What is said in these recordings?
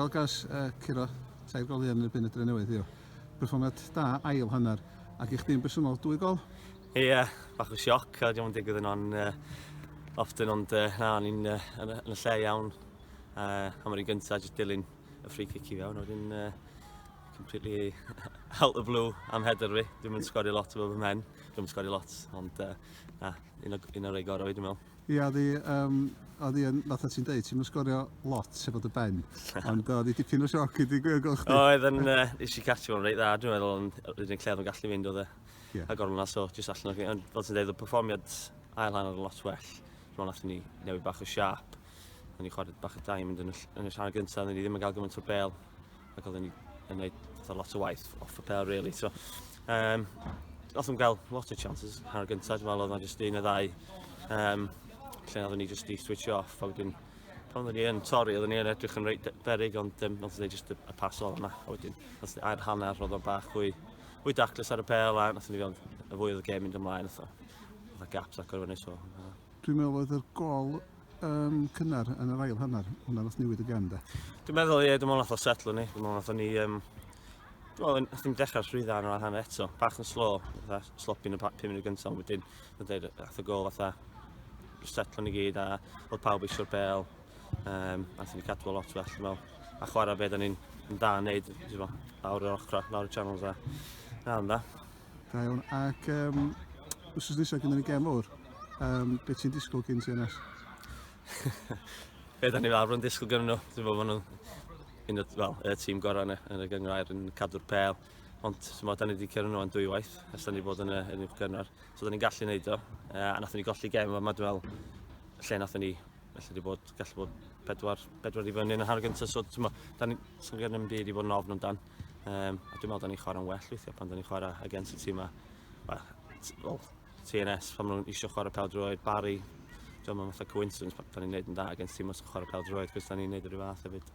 Wel gas uh, curo tair gol yn erbyn y dre newydd, yw. Perfformiad da, ail hanner. Ac i chdi'n bersonol, dwy gol? Ie, yeah, bach o sioc, a diolch yn digwydd yn o'n uh, often, ond uh, na, o'n i'n uh, yn, y lle iawn. Uh, am yr un gyntaf, jyst dilyn y ffri cic i fewn, o'n uh, completely out the blue am header fi. Dwi'n mynd sgori lot o bob ymhen, dwi'n mynd sgori lot, ond uh, na, un o'r un o rei gorau fi, dwi'n meddwl. Ia oedd hi yym oedd hi yn fatha ti'n deud ti'm yn sgorio lot efo dy ben ond oedd hi dipyn o sioc i di gwir gwel chdi. Oedd yn yy nes i catch fo'n reit dda dwi'n meddwl ond yr unig lle oedd yn gallu fynd oedd e Ie. a gornel na so jyst allan o fi ond fel ti'n deud oedd perfformiad ail hanner yn lot well dwi'n meddwl nathon ni newid bach o siâp o'n i chwarae bach o diamond yn y ll- yn y rhan gynta' oedden ni ddim yn gael gymaint o bêl ac oedden ni yn gwneud fatha lot o waith off the pair really. So, um, oedden nhw'n cael lot o chances hanner gyntaf, dwi'n meddwl oedd jyst un o ddau um, lle oedden ni jyst i switch off a wedyn pan oedden ni yn torri, oedden ni yn edrych yn reit berig ond um, oedden ni jyst y, y pas o'r yna a wedyn oedden ni air hanner oedd o'n bach hwy hwy daclus ar y pel a oedden ni fewn y fwy oedd y gêm mynd ymlaen oedd o gaps ac o'r fyny so uh, Dwi'n meddwl oedd y gol yn cynnar yn yr ail hanner, hwnna nath newid y gem de. Dwi'n meddwl, ie, dwi'n meddwl nath o setlo ni. Dwi'n meddwl nath o ni... Um, dwi'n meddwl nath ni'n dechrau'r llwydda yn yr ail hanner eto. Bach yn slo, fatha sloppy yn y 5 munud gyntaf, ond wedyn, wedyn, nath o gol fatha setlo ni gyd a oedd pawb eisiau'r bel. Um, nath ni cadw lot well, dwi'n meddwl. A chwarae beth o'n ni'n da yn neud, dwi'n meddwl, lawr yr ochrau, lawr y channels a... Na, ond da. Da iawn. Ac um, wrth nesaf gyda ni gem fawr, um, beth ti'n disgwyl gyn ti ynas? Be da ni fel arfer yn disgwyl gyn nhw? Dwi'n meddwl bod nhw'n un o'r well, y tîm gorau yna yn y gyngrair yn cadw'r pel. Ond ti'n meddwl, da ni wedi cyrraedd nhw yn dwy waith, ys da ni bod yn y, yn y gyngrair. So da ni'n gallu gwneud o. Uh, a nath ni golli gem yma, dwi'n meddwl, lle nath ni felly wedi bod, gallu bod pedwar, pedwar i fyny yn y hanner gyntaf, so ti'n meddwl, da ni'n sylwyr yn byd i bod yn ofn amdan. Um, a dwi'n meddwl da ni'n chwarae'n well weithiau pan da ni'n chwarae against y tîm yma. Well, well, TNS, pan nhw'n eisiau chwarae pawb droed, Barry, dwi'n meddwl fatha coincidence pan da ni'n gwneud yn da against tîm os yn chwarae pawb droed, cos da ni'n gwneud yr un fath hefyd.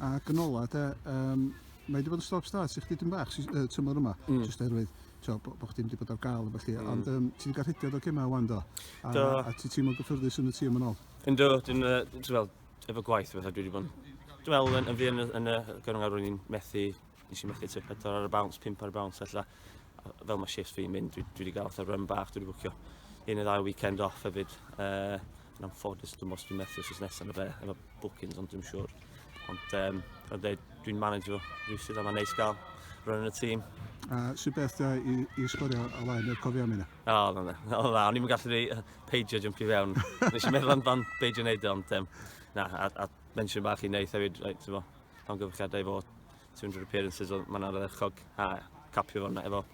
A gynola, de, um, mae wedi bod yn stop start i chdi dyn bach uh, tymor yma, mm. jyst erwydd tio, bo, bo chdi wedi bod ar gael efo chi, mm. ond um, ti wedi cael rhediad o gemau wan do? A, do. a ti ti'n mwyn gyffyrddus yn y tîm yn ôl? Yn do, dwi'n, uh, dwi'n, efo gwaith a bethau, dwi wedi bod yn... Dwi'n meddwl yn, yn fi yn, yn y gyrwng ar i'n methu, nes i methu tip pedwar ar y bounce, pimp ar y bounce, allan. Fel mae shifts fi'n mynd, dwi, dwi wedi gael fatha run bach, dwi wedi bwcio un neu ddau weekend off hefyd. Uh, yn amffodus, dwi'n meddwl dwi'n methu os nesaf na fe, efo bookings, ond dwi'n siŵr. Ond um, dwi'n manager fo, rhywsyd, a mae'n neis gael run yn y tîm. A sy'n beth da i, i sgorio o laen y cofiau mynd? O, na, na, na, na, o'n i'n gallu rei peidio jump i fewn. Nes i'n meddwl amdan beidio wneud e, ond um, na, a, a mensiwn bach i wneud hefyd, right, ti'n fo, pan gyfrchiadau fo 200 appearances, oedd mae'n arddechog, a capio fo'n efo,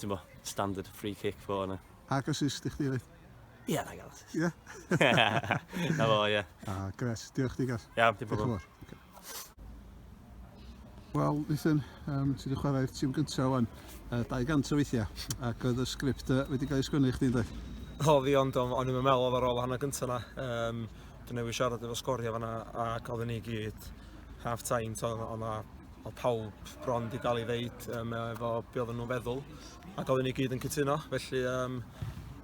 ti'n fo, standard free kick fo yna. Ac assist i chdi, reit? Ie, na gael assist. Ie? na fo, ie. Ah, gret. Diolch, digas. Iawn, diolch yn fawr. Wel, Nathan, um, ti wedi chwarae'r tîm gyntaf o'n uh, 200 o weithiau, ac oedd y sgript uh, wedi cael ei sgwynnu i chdi, dweud? O, fi, ond o'n i'n meddwl oedd ar ôl hanner gyntaf yna. Um, dwi'n newid siarad efo sgorio fanna, ac oedd ni gyd half time, to, o'n na o pawb bron di gael ei ddeud um, efo be oedden nhw'n feddwl ac oedden ni gyd yn cytuno felly um,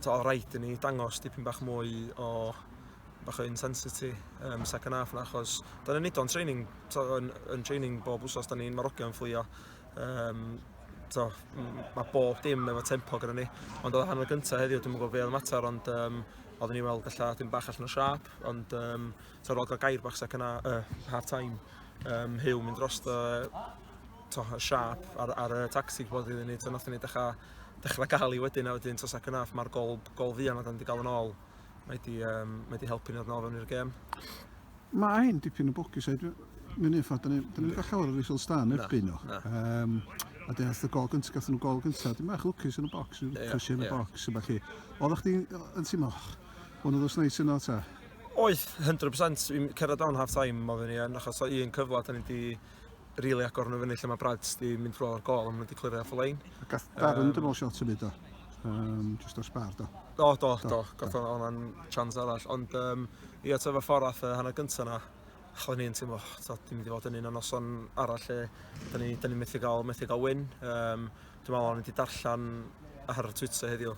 to, o rhaid i ni dangos dipyn bach mwy o bach o intensity um, second half na, achos da ni'n neud o'n training, to, yn, yn training bob wsos, da ni'n marogion fflio. Um, to, mae bob dim efo tempo gyda ni. Ond oedd hanner gyntaf heddiw, dwi'n gwybod fe oedd mater, ond um, oeddwn ni weld allan dim bach allan o siap, ond um, to, rol gael gair bach second half, uh, half time, um, hyw mynd dros to, to, siap ar, ar y tacsi bod iddyn ni, to, nath ni dechrau, dechrau gael i wedyn, a wedyn to second half, mae'r gol, gol fi yna, da ni wedi gael yn ôl. Mae di, um, mae di helpu ni ddod nôl fewn i'r gêm. Mae hyn dipyn o bwcus, a Mae'n un ffordd, da ni'n ni gael llawer o reasons da yn erbyn nhw. Um, a dyn allan gol gyntaf, gath nhw gol gyntaf, dim bach lwcus yn y bocs, rhyw crysio yn y bocs, a falle. Oedd o'ch ti'n teimlo, hwn oedd os neis yno ta? Oedd, 100%, fi'n cerdded down half time, mae fe ni yn, achos o un cyfle, da ni wedi rili agor nhw fyny lle mae Brads di mynd drwy o'r gol a maen nhw wedi clirio off y lein. A gath Darren um, dynol shot yn byd o, um, just o'r sbar do. Do, do, do, gath o'n o'n chance arall, ond um, i atef y ffordd ath y hanner gyntaf na, chod ni'n teimlo, ti'n mynd i fod yn un o'n noson arall lle, da ni, da ni methu gael, methu gael win. Um, dwi'n meddwl o'n wedi darllen ar Twitter heddiw,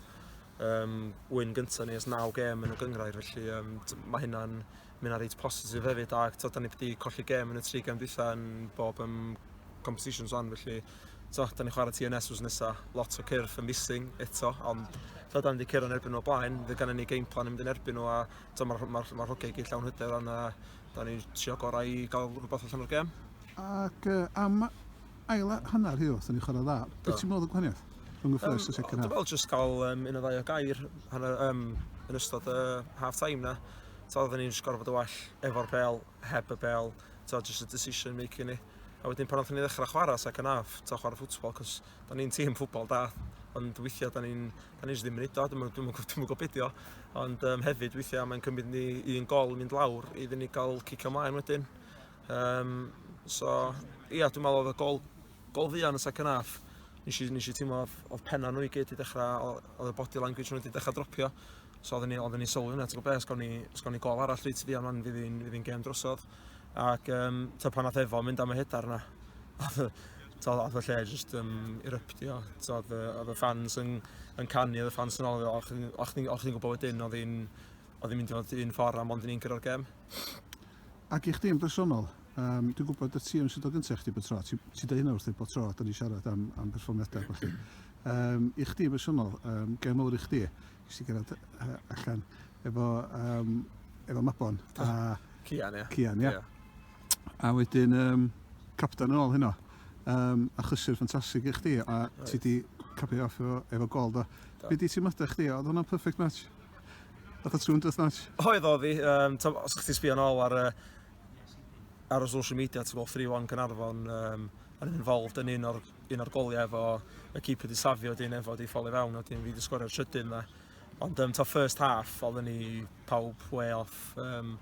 um, win gyntaf ni ys 9 gem yn y gyngrair, felly um, mae hynna'n Mae yna reit positif hefyd ac to, da ni wedi colli gem yn y tri gem dwytha yn bob um, competitions o'n felly to, da ni'n chwarae TNS wrth nesaf, lot o cyrff yn missing eto, ond to, da ni wedi cyrraedd yn erbyn nhw o blaen, fe gan ni game plan yn mynd yn erbyn nhw a to, mae'r ma, ma, ma rhogau i gyd llawn hyder ond a, da ni'n trio gorau i gael rhywbeth allan o'r gem. Ac uh, am Ail a hanner heddiw aethon ni chwarae dda. Be ti'n meddwl oedd y gwahaniaeth rhwng y first a second half? Dwi'n meddwl jyst cael un neu ddau o gair yn ystod y half time na. Tibod oedden ni'n jyst gorfod bod yn well efo'r bel, heb y bel, tibod jyst y decision making ni. A wedyn pan oedden ni'n ddechrau chwarae second half, tibod chwarae ffwtbol, cos da ni'n tîm ffwtbol da, ond weithiau da ni'n da ni jyst ddim yn neud o, dwi'm yn gwybod beth o. Ond um, hefyd weithiau mae'n cymryd ni un gol mynd lawr iddyn ni gael cicio mlaen wedyn. Um, so, ia, dwi'n meddwl oedd y gol, gol fuan yn y second half. Nes i, nes i teimlo oedd, oedd penna nhw i gyd i dechrau, oedd y body language nhw wedi dechrau dropio. So oedden ni, oedden ni sylwi hwnna, ti'n gwybod beth, sgon ni gol arall reit fuan fan fydd hi'n fydd gem drosodd. Ac um, ta pan oedd efo mynd am y hedar yna, oedd y lle jyst um, eruptio. Oedd y ffans yn, yn canu, oedd y ffans yn ôl, o'ch chi'n gwybod wedyn, oedd hi'n mynd i fod un ffordd am ond ni'n gyrra'r gem. Ac i chdi yn bersonol, um, dwi'n gwybod y ti yn sydd o gyntaf i chdi bod tro, ti'n ti dweud hynna wrth ei bod tro, da ni siarad am, am perfformiadau ac felly. Um, I chdi yn bersonol, um, gael mawr i chdi, i chdi gerad uh, allan efo, um, efo Mabon a... Cian, ie. Cian, ie. A wedyn, um, captain yn ôl hynno, um, a chysur ffantastig i chdi, a right. ti di capio off efo, efo gol, do. Be di ti'n teimladau chdi, oedd hwnna'n perfect match? Oedd y tŵn drwyth notch? Oedd oedd hi. Um, os ydych chi'n sbio yn ôl ar, uh, ar y social media, ti'n gweld 3-1 Gynarfon um, yn involved yn un o'r, un o'r goliau efo y keep wedi safio dyn efo di ffoli fewn o dyn fi wedi sgorio'r trydyn dda. Ond um, ta first half, oedd ni pawb way off. Um,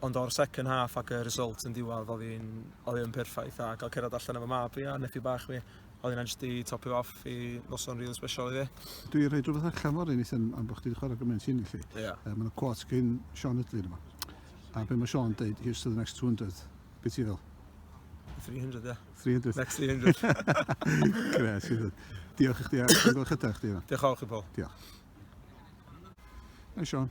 Ond o'r second half ac y result yn diwedd, oedd hi'n oedd hi'n perffaith a cael cerdded allan efo mab fi a nephew bach fi, oedd hi'n just i topio off i noson rili special i fi. Dwi wedi rhoi rhywbeth allan fory nes am am bod chdi wedi chwarae gymaint hyn i chi. Ie. Uh, Mae yna quote gen Sean Ydley yma. A be mae Sean dweud, here's to the next 200. Be ti fel? 300, ie. 300. Next 300. Gres, Diolch i chdi a gwrdd chydau chdi yma. Diolch fawr chi, Paul. Diolch. Hey, Sean.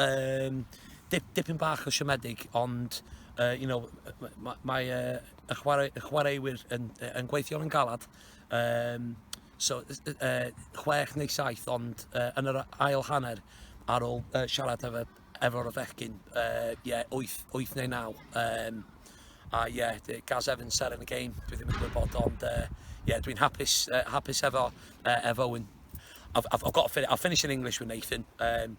um, dip, dipyn bach o siomedig, ond uh, you know, mae, mae uh, y, chwarae, y chwaraewyr yn, yn gweithio yn galad. Um, so, uh, chwech neu saith, ond uh, yn yr ail hanner, ar ôl uh, siarad efo, efo o'r fechgyn, uh, yeah, 8, 8 neu 9. Um, a ie, yeah, Gaz Evans ser yn y game, dwi ddim yn gwybod, ond uh, yeah, dwi'n hapus, uh, hapus efo, uh, efo Owen. I've, I've, I've got to finish, I'll finish in English with Nathan. Um,